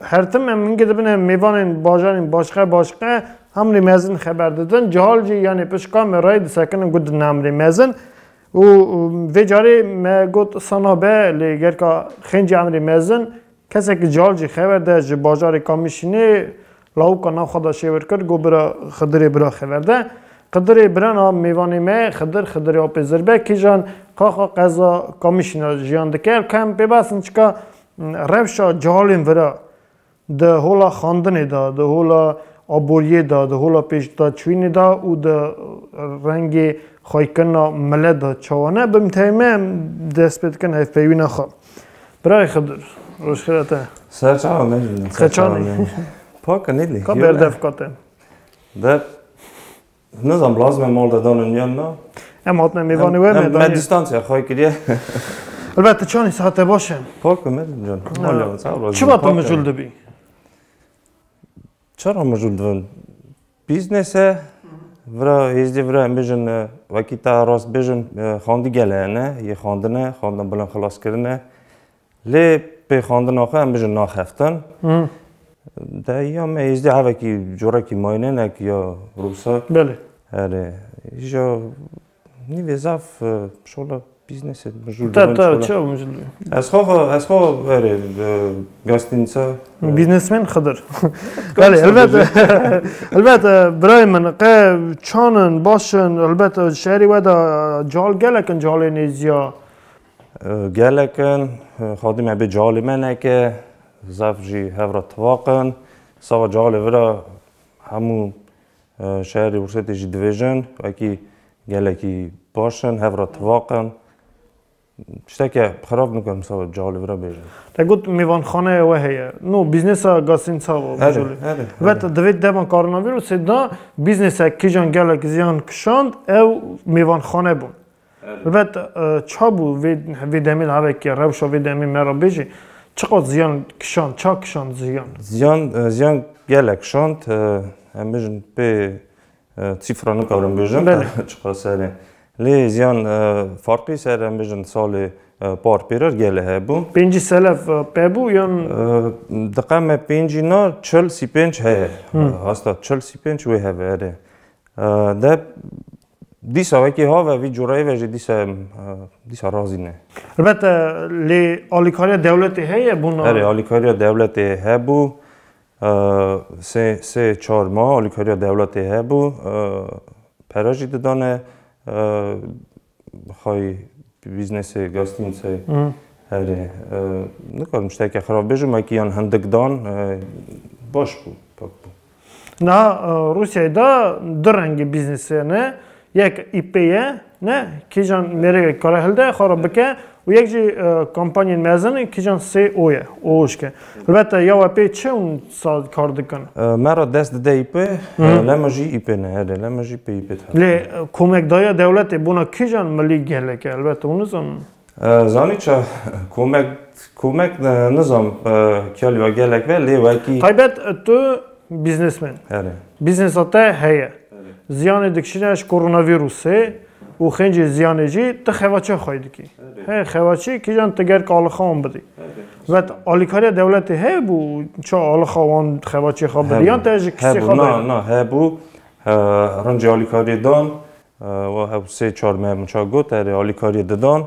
Hertim em hingê dibine mêvanên bajarên başqe başqe Hamrê Mezin xeber didin. Cihal jî yanê pişt kamerayê disekinin ku didin Hamrê Mezin. û vê carê me got sana be lê gelka Xêncî Hamrê Mezin kesekî cihal jî xeber de ji bajarê Kamîşînê lawika nav xwe de şêwir kir got bira Xidirê bira xeber de. Xidirê birana mêvanê me Xidir Xidirê Apê Zirbek kîjan Qaxa qeza Kamîşînê de jiyan dike. Ev ka em pê basin çika Rewşa cehalên vira di hola xandinê de, di hola aboriyê de, di hola pêşdaçûyînê de û di rengê xwekirina milet de çawa ne? Bi mteyme em dest pê dikin hevpeyvîna xwe. Birayê Xidir, rojxêr e te. Ser çawa mejî. Xeçanê. Paka nedî. Ka berdevka te. Dev. Nizam lazim e mal de danin yan na. Em hatine mêvanê we me dayê. Me distansiya xwe kiriye. Elbet tu çanî sate baş e. Pak e medim can. Malê min sağ ol. Çima tu mijul dibî? Çara mijul dibin? Business e. Vira hêzdê vira em bijin wekî te rast bijin xandî gele ne yê xandine, xandina bilan xilas kirine. Lê pêxandina xwe em bijin naxeftin. De ya me êzdî hevekî corekî mayînenek ya rûsa. Belê. Erê. Îja nîvê zaf şola bîznesê mijûl dibin. Te te çi mijûl dibin? Ez xwe ez xwe erê gestînsa. Bîznesmen Xidir. Belê helbet helbet birayê min qe çan in baş in helbet şerî we de cal gelek in calê nêzîya Gelek in, xadî me bê calê me neke, zaf jî hev re tivaq in. Sava calê vi re hemû şerê Wursetê jî dibêjin wekî gelekî baş in, hev re tivaq in. Tişteke xerab nikarim sava calê vi re bêjim. Te got mêvanxaneya we heye. No, bîznesa Gasîn Sava bi calê. Vet, di vê dema koronavîrûsê de bîznesek kîjan gelek ziyan kişand ew mêvanxane bûn. Ribet, ça bû vê vê demê li Hevekiya rewşa vê demê me re bêjê, çiqas ziyan kişand, ça kişand ziyan? Ziyan, ziyan gelek kişand, em bêjin pê sîfra nikarim bêjin Belê. çiqas serê. Lê ziyan farqî ser em bêjin salê par pê re gelê hebû. Pêncî selef pe bû yan? Diqe me pêncî na çil sîpênc heye. Asta çil sîpênc wê hebe erê. Deb Dîsa wekî have vî cureyê ve jî dîsa dîsa razî ne. Elbet lê alîkariya dewletê heye bûna. Erê alîkariya dewletê hebû sê sê çar ma alîkariya dewletê hebû pere jî didane xay bîznesê gastînsê herê nikarim şteke xirab bêjim wekî yan hindik dan baş bû pak bû. Niha Rûsyayê de du rengî bîznîsê ne. Yek îpê ye ne kîjan mêrekek kare hilde xwe re bike û yek jî kompanyên mezin kîjan sê o ye û ûşk e. Helbete ya we pê çi hûn sal kar dikin. Me re dest dide îpê lê me jî îpê ne erê lê me jî pê îpê dixin. Lê komek daye dewletê bona kîjan milî gelek e helbete hûn nizanin. Zanî ça komek komek nizam kêlî wa gelek be lê wekî. Taybet tu bîznesmen. Erê. Bîznesa te heye. Ziyanê dikişîne ji koronavîrusê û xêncê ziyanê jî ti xevaçeya xweyî dikî. Hê xevaçî kîjan ti ger ki alixa wan bidî. Vet alîkariya dewletê heye bû ça alixa wan xevaçê xwe bidî yan te ji kisê xwe bêre? Na na hebû rincê alîkariyê dan Wa ew sê çar mermiça got erê alîkariyê didan.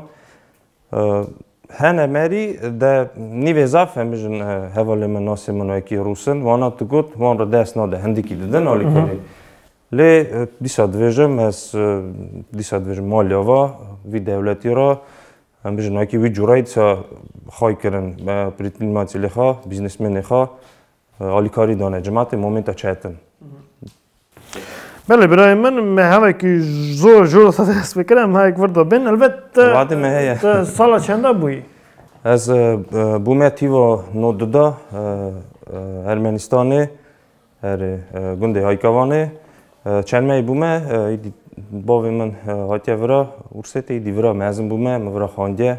Hene merî de nîvê zaf e mijin hevalên min nasê min wekî rûs in. Wana tu got wan re dest nade hindikî didin alîkariyê. Lê dîsa dibêjim ez dîsa dibêjim maliya va vî dewletî ra mijin wekî wî cureyî dîsa xay kirin prîtîlmatîlê xwe, bîznesmenê xwe Alîkarî dane cimatê momenta çet in. Belê birayê min me hevekî zor jor xwe dest pê kir em hevek vir da bên elbet Vadê me heye. te sala çenda bûyî? Ez e, e, bûme tîva no duda e, e, Ermenistanê erê e, gundê Haykavanê. E, Çermeyê bûme e, îdî bavê min e, hatiye vira Ursêtê îdî vira mezin bûme min vira xandiye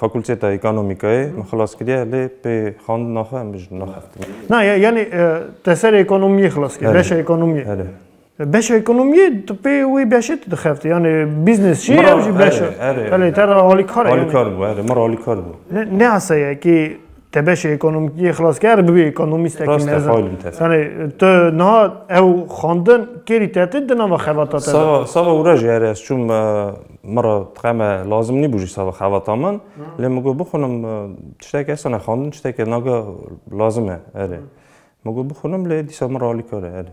Fakulteta Ekonomîkayê min xilas kiriye lê pê xwendina xwe min ji naxeftibû. Na ya yanî te ser ekonomiyê xilas kiriye, beşa ekonomiyê. Erê. Beşa ekonomiyê tu pê wê beşê tu dixeftî yanî bîznes jî ew jî beş e. Erê. Belê te re alîkar e. Alîkar bû erê min re alîkar bû. Ne asayekî Te beşê ekonomikiyê xilas kir eger bibî ekonomîstekî Rast e mezin. Paul in tevî. Yanî tu niha ew xwendin kêrî te tê di nava xebata te de? Sava sava wira jî erê ez çûm e, min re dixeme lazim nîbû jî sava xebata min. Lê min got bixwinim e, tiştekî hest hene xwendin tiştekî nage lazim e erê. Min got bixwinim lê dîsa min re alîkar e erê.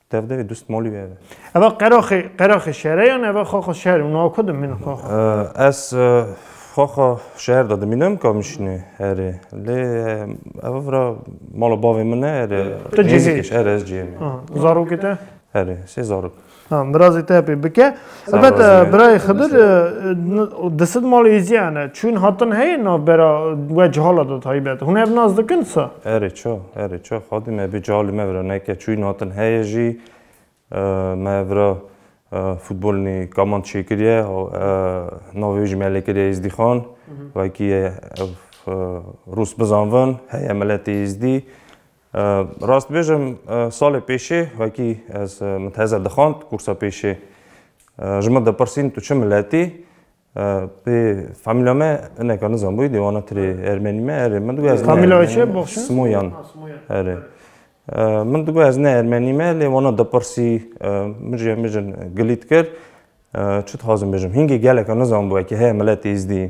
Dev devê dust molî wê eve. Eva qeraxê qeraxê şere yan eva xaxa şer û naku dimînin xaxa. Ez xaxa şeher de dimînim ka mişînê erê. Lê eva vira mala bavê min e erê. Tu cihê. Erê ez cihê me. Zarokê te? Erê sê zarok. Ha birazê te pê bike. Elbet birayê Xedir di sid malê êzîyan e. Çûn hatin heye navbera we cihala de taybet. Hûn ev nas dikin sa? Erê ça, erê ça. Xadî me bê cihalê me vira neke çûn hatin heye jî me vira futbolî kaman çêkiriye navê wî jî me lê kiriye Êzdîxan. Wekî ye ev rûs bizanvin heye miletê êzdî. Rast bêjim salê pêşê wekî ez min teze dixwand kûrsa pêşê ji min dipirsîn tu çi miletî? Pê famîlya me hineka nizanbûyî dê wana tirê ermenî me erê min digot Famîlya çi boxşin? Simoyan erê. Min digot ez ne ermenî me lê wana dipirsî min jê min jin gilît kir. Çi dixwazim bêjim hîngê geleka nizanbû wekî heye miletê êzdî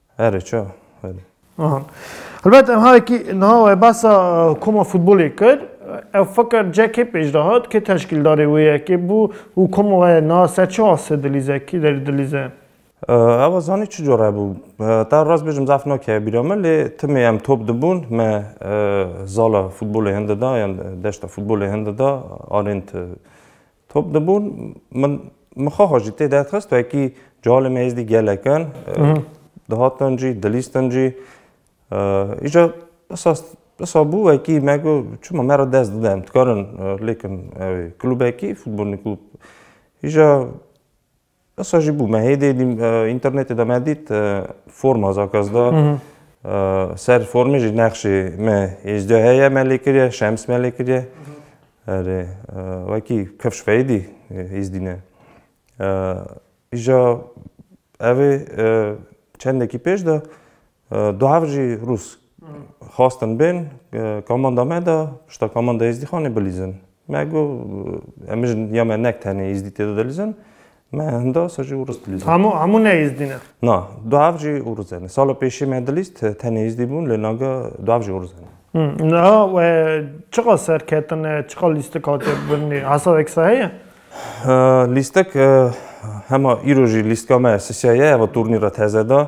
Here ça here. Aha. Helbet em harekî niha wê behsa koma futbolê kir. Ev fikir ceh kê pêş de hat, kê teşkîldarê wê yekê bû û koma wê niha ser çi asê dilîze, kî derî dilîze? Ew zanî çi cure bû. Te rast bêjim zaf nakeve bîra min lê timê em top dibûn me zala futbolê hin dida yan deşta futbolê hin dida arênt Top dibûn min mixaxa jî tê derxist wekî calê me êzdî gelek in dihatin jî dilîstin jî îja esas Esa bû wekî me got çima me re dest bide em dikarin lêkin ew ê klûbekî futbolnî klûb îja Esa jî bû me hê dê dîm înternetê de me dît forma zakas da ser formê jî nexşê me êcdî heye me lê kiriye şems me lê kiriye erê wekî kevş feydî îzdîne îja evê çendekî pêş de Du hev jî Rûs xwastin bên kamanda me de pişta kamanda Êzdîxanê bilîzin. Me got em mijin ya me nek tenê Êzdî tê de dilîzin. Me hinda sa jî Rûs dilîzin. Hemû hemû ne Êzdî ne? Na, du hev jî Rûs ne. Sala pêşî me dilîst tenê Êzdî bûn lê nage du hev jî Rûs ne. Niha we çiqas serketine, çiqas lîstik hatiye birînê? Hesab eksa heye? Lîstik hema îro jî lîstka me sisiya ye heva turnî re teze de.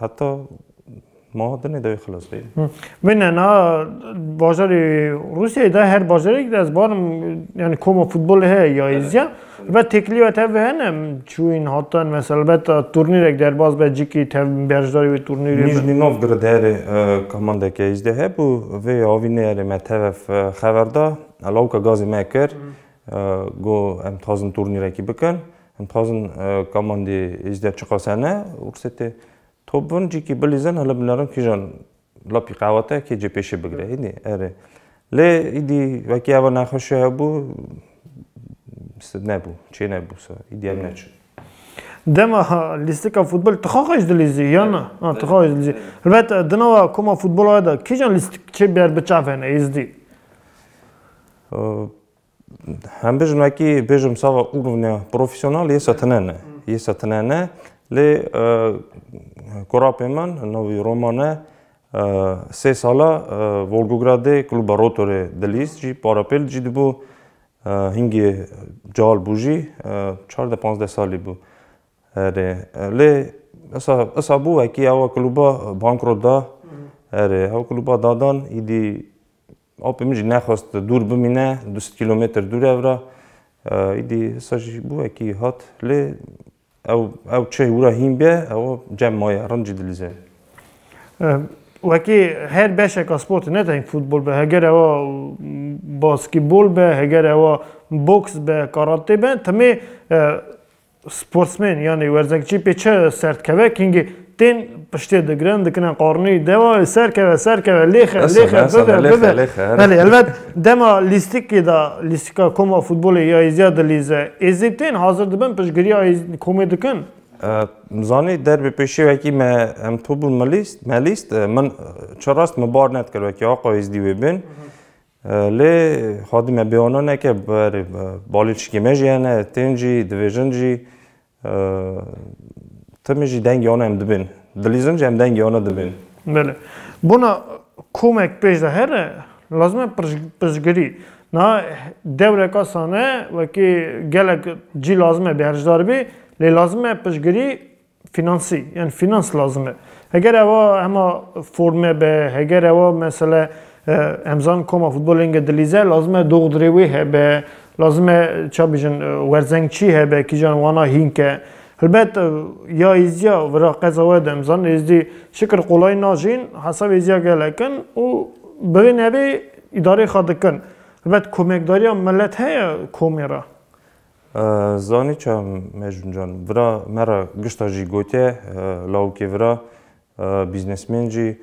Heta maha dinê dawî xilas bê. Min ena bajarê Rûsyayê de her bajarek de ez barim yani koma futbol heye ya êzya. Elbet têkilîya tevbi hene çûyîn hatan mesela elbet turnîrek derbas be cikî tevbin berjdarê wê turnîrê. Nîjnî Novgorod herê kamandeke êzdê hebû vê avî nê herê me tevev xever da lawika gazê me kir got em dixwazin turnîrekî bikin. Em dixwazin kamandî ji der çiqase ne û qisê tê top bin cîkî bilîzin hele binerin kîjan lapî qewete kê cê pêşê bigire îdî erê. Lê îdî wekî eva nexweşî hebû nebû çê nebû se îdî em neçin. Dema lîstika futbolê tixwa xwe ji dilê zî ya na? A tixwa xwe ji dilê zî. Helbet di nava koma futbola we de kîjan lîstikçê ber biçavêne êzdî? Hem bêjim nekî bêjim sava û bivne profesyonel yê setine ne. Yê setine ne lê korapê min navî Roma ne sê sala Volgogradê Kluba Rotorê Dilîz jî parapêl jî dibû hingê cal bû jî çardeh panzdeh salî bû. Erê lê isa isa bû wekî ewa kluba bankrot da. Erê ew kluba dadan îdî Apê min jî nexwest dûr bimîne, du sed kîlometr dûr e vira. Îdî hisa jî bû wekî hat lê ew ew çi wira hîn be ew cem maye, rind jî dilîze. Wekî her beşeka sportê ne teng futbol be, heger ewa baskîbol be, heger ewa boks be, karate be timê Sportsmên yanî werzekçî pê çi ser dikeve kingî tên piştê digirin dikine qarnî dewa ser keve ser keve lêxe lêxe bibe bibe belê elbet dema lîstikî da lîstika koma futbolê ya êziya dilîze êzî tên hazir dibin piştgiriya komê dikin zanî derbê pêşê wekî me em tobûn melîst melîst min çi rast min bar nedkir wekî aqayêzdî wê bin Lê xwedî me bêano neke berê balê çikê me jî hene, tên jî, divêjin jî. Timî jî dengê wan em dibên. Dilîzin jî em dengê wan dibên. Belê. Bona komek pêş de here, lazim e pirsgirî. Niha dewreka sane wekî gelek cî lazim e bêhercdar bî, lê lazim e pirsgirî Finansî yani finans lazim e. Heger ewa hema forme be, heger ewa mesela hemzan koma futbolênge dilîze lazim e doxdurê wê hebe, lazim e ça bijin werzengçî hebe kîjan wana hînk e. Helbet ya êzîya vera qeza we de hemzan êzdî şikir qolay najîn hesabê êzîya gelek in û bi vê navê îdareyê xwe dikin. Helbet komekdariya milet heye komê re. Zanî ça Mecnûn Can vira me re gişta jî gotiye, lawikê vira bîznesmên jî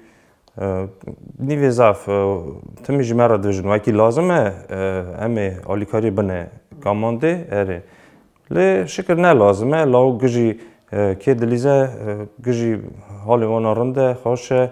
nîvê zaf timî ji me re dibêjin wekî lazim e em ê alîkariyê bine kamandê erê. Lê şikir ne lazim e, lawik gijî kê dilîze, gijî halê wan a rind e, xweş e,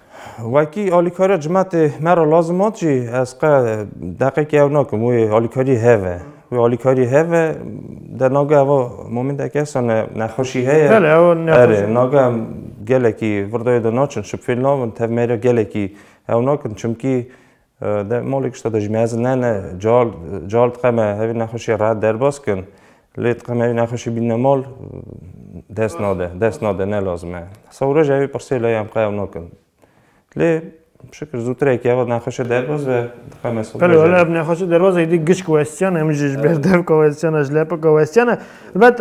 Wekî alîkariya cimetê me re lazim hat jî ez qe deqekî ew nakim wê alîkarî heve. Wê alîkarî heve de naga eva momîndek hesa ne nexweşî heye. Bele ew nexweşî. Naga em gelekî virdayê de naçin şipfêl nabin tev mêre gelekî ew nakin çimkî De malê kişta de jî mezin ne ne cal cal diqeme hevî nexweşî rehet derbas kin. Lê diqeme hevî nexweşî bînne mal dest nade dest nade ne lazim e. Sewre jî hevî pirsê lê em qe ew nakin. Lê şikir zûtir eke ev nexweşe derbas be diqeme sewre jî. Belê wele ev nexweşe derbas e îdî giçk westiyane em jî ji ber devka westiyane ji lepika westiyane. Helbet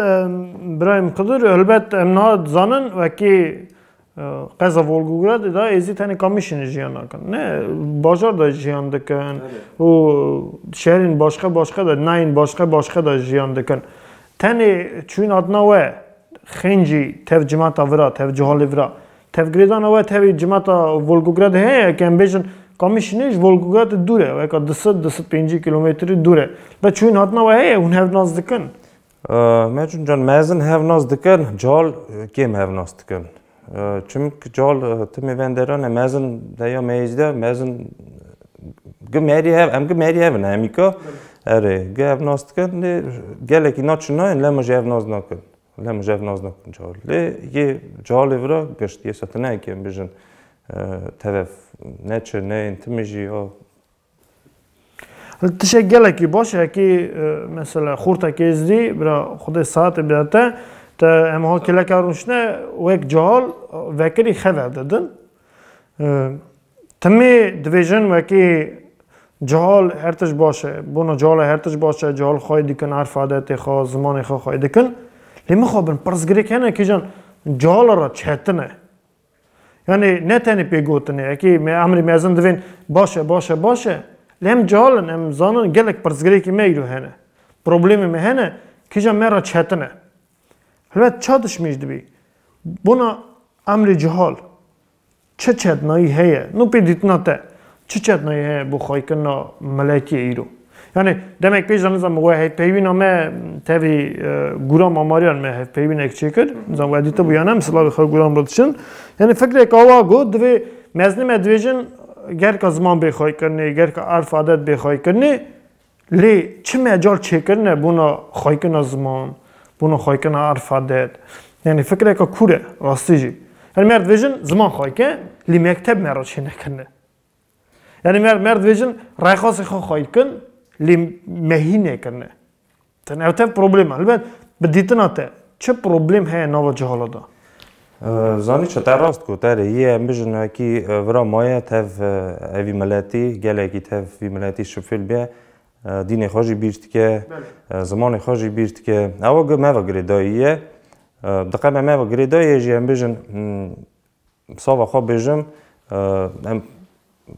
birayê min Xidir helbet em niha dizanin wekî Qeza Volgogradê de êzî tenê kamîşinê jiyan nakin. Ne bajar de jiyan dikin û şerên başka başka de nayên başka başka de jiyan dikin. Tenê çûyîn hatina we xêncî tev cimata vira, tev cuhalê vira. Tevgirêdana we tevî cimata Volgogradê heye ke em bêjin kamîşinê ji Volgogradê dûr e. Weka di sed di sed pêncî kîlometrî dûr e. Be çûyîn hatina we heye hûn hev nas dikin. Mecun can mezin hevnas dikin, cal kêm hevnas dikin. Çimk cal timê venderane mezin deya meyicde mezin gi merî hev em gi merî hevin hemîka erê gi hevnas dikin lê gelekî na çinayên lema jî hevnas nakin. Lema jî hevnas nakin cal. Lê yê calê vira gişt yê se tu neheke em bijin tev ne çi ne yên timê jî ya Tişek gelekî baş e kî mesela xorta kêzdî bira xwedê saetê bida te te em ha kêleka rûşne wek cihal vekirî xever didin. Timî dibêjin wekî cihal her tişt baş e. Bona cihala her tişt baş e, cihal xwayî dikin, erf adetê xwe, zimanê xwe xwayî dikin. Lê mixabin pirsgirêk hene kîjan cihala re çetin e. Yanî ne tenê pêgotinê ekê me emrê mezin divên baş e baş e baş e lê em cihal in em zanin gelek pirsgirêkê me îro hene. Problemê me hene kîjan me re çetin e. Helbet ça dişmêj dibî. Bona emrê cihal çi çetnayî heye no pê dîtina te. Çi çetnayê heye bo xwekirina miletiyê îro? Yanî demek pêş de nizam we hevpeyvîna me tevî gûra mamariyan me hevpeyvînek çêkir. Nizam we dîtibû ya ne em silavê xwe gûran re diçin. Yanî fikrek awa got divê mezin me dibêjin gerka ziman bê xwekirnê, gerka erf adet bê xwekirnê. Lê çi mecal çêkirine bona xwayikina ziman, bona xwayikina erfadet. Yanî fikreke kûr e rastî jî. Yanî me dibêjin ziman xwayike lê mekteb me re çênekirine. Yanî me me dibêjin rayxasê xwe xwayikin lê me hî nekirine. Ew tev problema. Helbet bi dîtina te çi problem heye nava cihalo de? Zanî çi te rast got erê yê em bijin wekî vira maye tev evî miletî gelekî tev vî miletî şifil be dînê xwe jî bîr dike zimanê xwe jî bîr dike ew gi me ve girêdayî ye di qe me me ve girêdayê jî em bijin sava xwe bijim em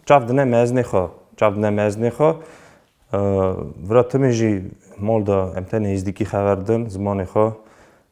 çav dine mezinê xwe çav dine mezinê xwe vira timê jî mal de em tenê hîzdîkî xever din zimanê xwe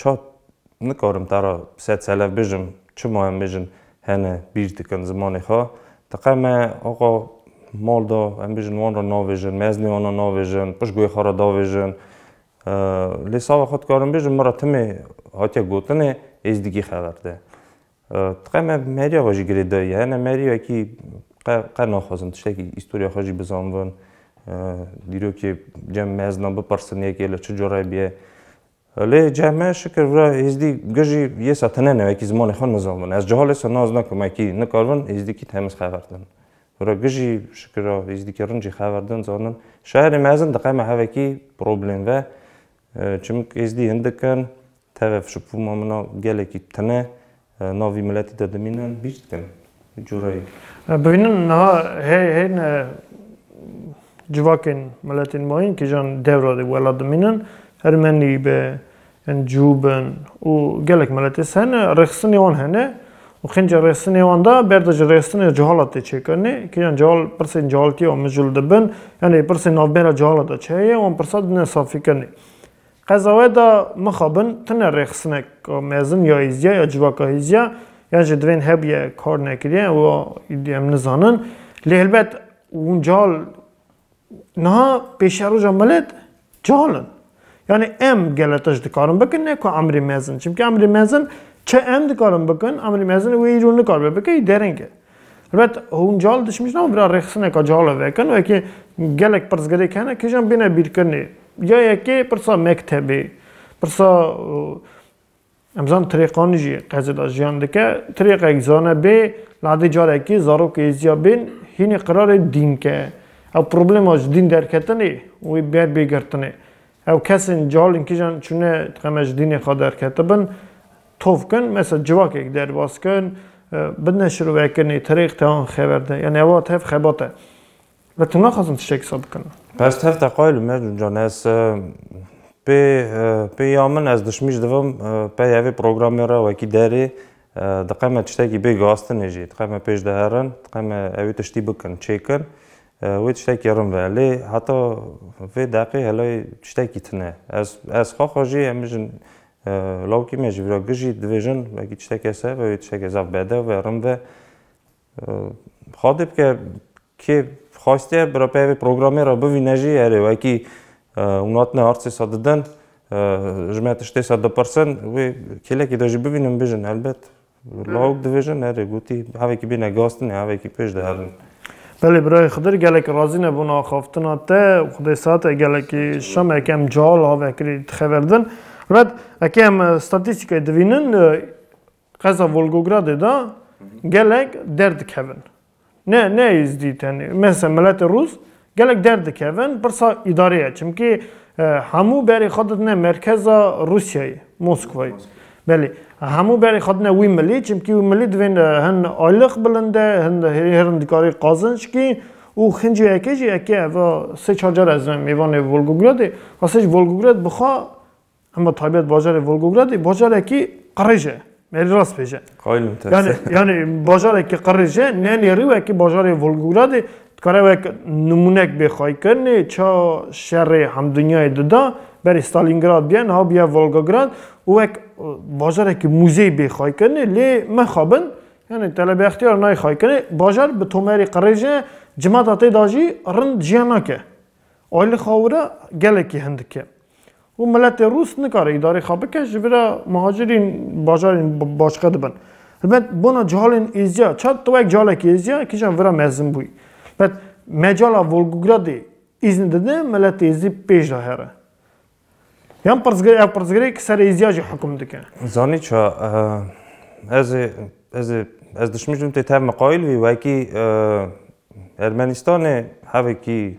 Çat, Nikarim te re sed selev bijim, çima em bijin hene bîr dikin zimanê xwe. Diqe me axa mal da, em bijin wan re navêjin, meznê wan re navêjin, piştguyê xwe re davêjin. Lê sava xwe dikarim bijim, min re timê hatiye gotinê, êzdigî xeber de. Qe me meriya xwe jî girê dayî hene meriyekî qe qe naxwazin tiştekî îstoriya xwe jî bizanbin. Dîrokê cem mezna bipirsin yekê li çi cureyê bûye. Lê cem me şikir vira Êzdî ge jî yê sa tune ne wekî zimanê xwe nizanbin. Ez cihal ê sa naz nakim wekî nikaribin êzdîkî temiz xeber din. Vira ge jî şikir a êzdîkî rincî xeber din zanin. Şairê mezin diqeme hevekî problem ve. Çimk êzdî hindik in Tevef ji pûma min a gelekî tune navî miletî de dimîne bîr dikin cureyê. Bihînin niha hey hey ne civakên miletên ma yên kîjan dewra de welat dimînin ermenî be yên cû bin û gelek miletê ser ne rêxistinê wan hene û qîncê rêxistinê wan de ber de ji rêxistinê cihalat tê çêkirinê kîjan cihal pirsên cihaltî ya mijûl dibin yanî pirsên navbera cihalat de çi heye wan pirsa dine safîkirinê Qezawe de mixabin tune rêxinek a mezin ya hêzya ya civaka hêzya yan jî divên hebûye kar nekiriye ewa em nizanin. Lê helbet hûn cihal niha pêşeroja milet cihal in. Yanî em gele tişt dikarin bikin ne ku emrê mezin. Çimkî emrê mezin çi em dikarin bikin, emrê mezin wê îro nikaribe bike wî dereng e. Rebet hûn cal dişmîş nabin bira rêxistineka cal ev ekin wekî gelek pirsgirêk hene kîjan bêne bîrkirinê. Ya yekê pirsa mektebê, pirsa em zan tirêqanî jî qezê de jiyan dike, tirêqek zane bê li hedî carekî zarok êzîya bên hînî qirarê dîn ke. Ew problema ji dîn derketinê wê ber bê girtinê. Ew kesên cehalên kijan çûne dixeme ji dînê xwe derketibin, tov kin, mesela civakek derbas kin, bidine şirovekinê, terêq te an xeber de. Yanî eva tev xebat e. Lê tu naxwazin tiştek sa bikin. Ez tev teqayil im ya Cûncan. Ez pê pê ya min ez dişmî ji divim pey evê programê re wekî derê dixeme tiştekî bê gastinê jî dixeme pêş de herin, dixeme ewê tiştî bikin, çêkin. Wê tiştekî rin be. Lê heta vê deqê helay tiştekî tune. Ez ez xwe xwe jî em bijin lawikî me ji vîra gijî dibêjin wekî tişteke seh be wê tiştekê zaf bedew be rin be. Xadê bike kê xwestiye bi re peyvê programê re bivîne jî erê wekî hûn hatine artê se didin ji me tiştê se dipirsin wê kêlekê de jî bivînin bijin helbet. Lawik dibêje nerê gotî hevekî bêne gastinê hevekî pêş diherin. Belê birayê Xidir gelek razî ne bona axaftina te û xwedê saetê gelekî şamek em cihal ha vekirî dixeverdin. Red ekê em statîstîkayê divînin qeza Volgogradê de gelek derdikevin. Ne, ne Êzdî tenê. Mesela miletê Rûs gelek derdikevin pirsa îdareye. Çimkî hemû berê xwe didine merkeza Rûsyayê, Moskwayê. Belê. Hemû berê xwe didine wî milî, çimkî wî milî divên hin aylix bilinde, hin hêrin dikarî qazinç kî û xincî yekê jî yekê ev a sê çar car ez me mêvanê Volgogradê. Xwesê ji Volgograd bixa Hema taybet bajarê Volgogradê bajarekî qirêj e. Merî rast bêje. Qaylim te. Yani yani bajarekî qirêj e, ne nêrî wekî bajarê Volgogradê dikare wek nimûnek bê xwaykirinê ça şerê hemdunyayê dida berê Stalingrad biyen ha biye Volgograd û wek bajarekî muzey bê xwaykirinê lê mexabin yani Telebê Extiyar nayê xwaykirinê bajar bi tomerî qirêj e cimata tê da jî rind jiyan nake. Aylixawira gelekî hindik e. û miletê rûs nikare îdarê xwe bike ji vira muhacirîn bajarên başqe dibin. Helbet bona cihalên Êzya, çar tewek cihalekî Êzya kîjan vira mezin bûyî. Helbet mecala Volgogradê îzn dide miletê Êzî pêş de here. Yan pirsgirê ev pirsgirê ki ser Êzya jî hukm dike. Zanî ça ez ê ez ê ez dişmij bim tê tev miqayîl vî wekî Ermenistanê hevekî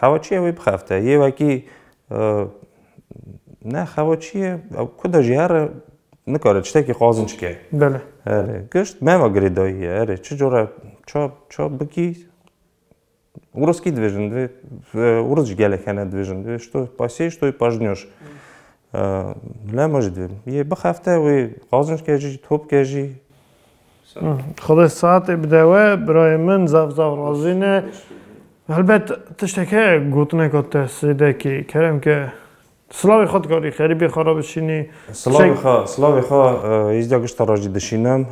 Xewa çi ye wê bixebite. Yê wekî ne xewa çi ye ew ku de jî here nikare tiştekî qazinc ke. Belê. Erê gişt meva girêdayî ye erê çi cure ça ça bikî Urus kî dibêjin divê Urus jî gelek hene dibêjin divê ji to pasiyê ji to yê pajniyoş. Lema jî divê yê bixebite wê qazinc ke jî top ke jî. Xwedê saetê bide we birayê min zaf zaf razî ne. Helbet tiştek heye gotineka te sêdekî kerem ke silavê xwe dikarî xerîbê xwe re bişînî. Silavê xwe silavê xwe hêzdeh gişta re jî dişînim.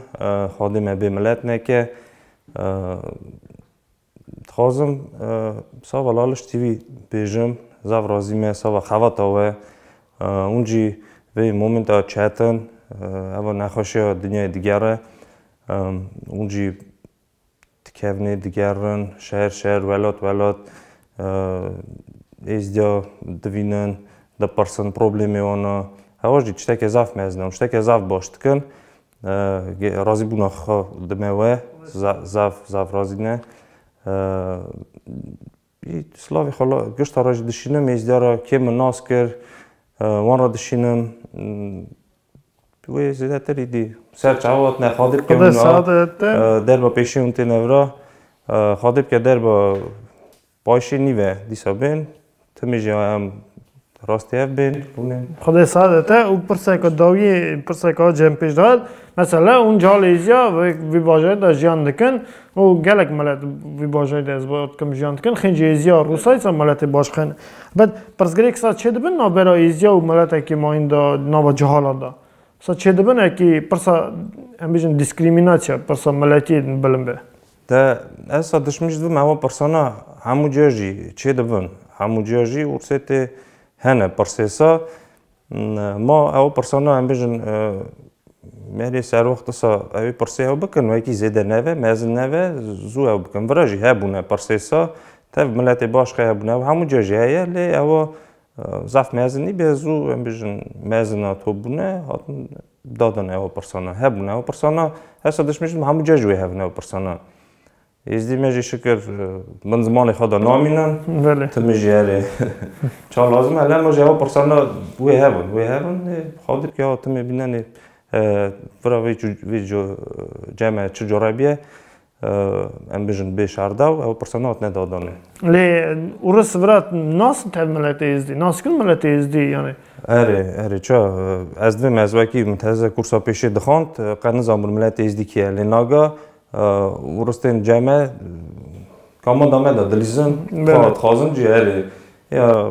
Xwedê me bê milet neke. Dixwazim sava laliş TV bêjim, zaf razî me sava xevata we. Hûn jî vê momenta çet in, eva nexweşiya dinyayê diger e. Hûn jî dikevnê, digerin, şer şer, welat welat êzdiya divînin, dipirsin problemê wan e. Hewa jî tiştekê zaf mezin e û tiştekê zaf baş dikin. Razîbûna xwe di me we zaf zaf razî ne. Slavê xwe la gişta re jî dişînim êzdîya re kêm min nas kir wan re dişînim wê zêdetir îdî ser çawa hatine xwe dê bike derba pêşê hûn têne vira xwe dê bike derba Paşê nîve dîsa bên. Timê jî a em rastî ev bên rûnên. Xwedê sadet e û pirseke dawiyê pirseke a cem pêş dihat. Mesela hûn calê Êzîya vê bajarê de jiyan dikin û gelek milet vê bajarê de ez dikim jiyan dikin. Xêncî Êzîya Rûsayê sa miletê baş xêne. Bed pirsgirêk sa çê dibin navbera Êzîya û miletekî mayîn de nava cehalat de. Sa çê dibin ekî pirsa em bêjin dîskrîmînasyya pirsa miletiyê bilind be. Te esa dişmî ji dibim ewa pirsana hemû cîya jî çê dibin. Hemû cîya jî ûrsê tê hene pirsêsa ma ewa pirsana em bêjin merê serwext disa ewê pirsê ew bikin wekî zêde neve mezin neve zû ew bikin. Vira jî hebûne pirsêsa tev miletê baş xe hebûne ew hemû cîya jî heye lê ewa zaf mezin nîbe zû em bêjin mezina top bûne hatin Dadin ew pirsana hebûn ew pirsana hesa dişmêjin me hemû cih ji wê hebin ew pirsana. Êzdî me jî şikir min zimanê xwe de namînin. Ti min jî erê çar lazim e lem jî ew pirsana wê hebin wê hebin xwe dît ya timê bînenê vira vê vê ceme çi cure bîye Em bijin bê şarda û ew pirsa nat ne dadan e. Lê Urus vira nasin tev miletê Êzdî? Naskirin miletê Êzdî yanê? Erê, erê ça. Ez divêm ez wekî miteze kursa pêşê dixwand, qet nizanbûn miletê Êzdî kî ye. Lê naga Urus tên ceme, kama dame de dilîzin, dixwazin cî erê. Ya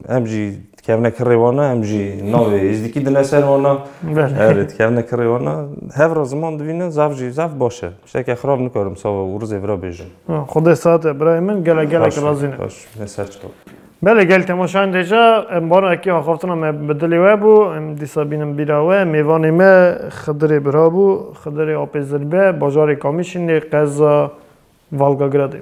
em jî dikevne kirê wan e, em jî navê Êzdîkî dine ser wan e. Erê dikevne kirê wan e. Hev re ziman divîne zaf jî zaf baş e. Tiştekî xirab nikarim sava û rizê vira bêjim. Xwedê saet e birayê min gelek gelek razî ne. Baş ne ser çi qal. Belê gel temaşayên dêja em baran ekî axaftina me bi dilê we bû. Em dîsa bînin bîra we. Mêvanê me Xidirê Birabû, Xidirê Apê Zilbe, bajarê Kamîşînê, qeza Valgagradê.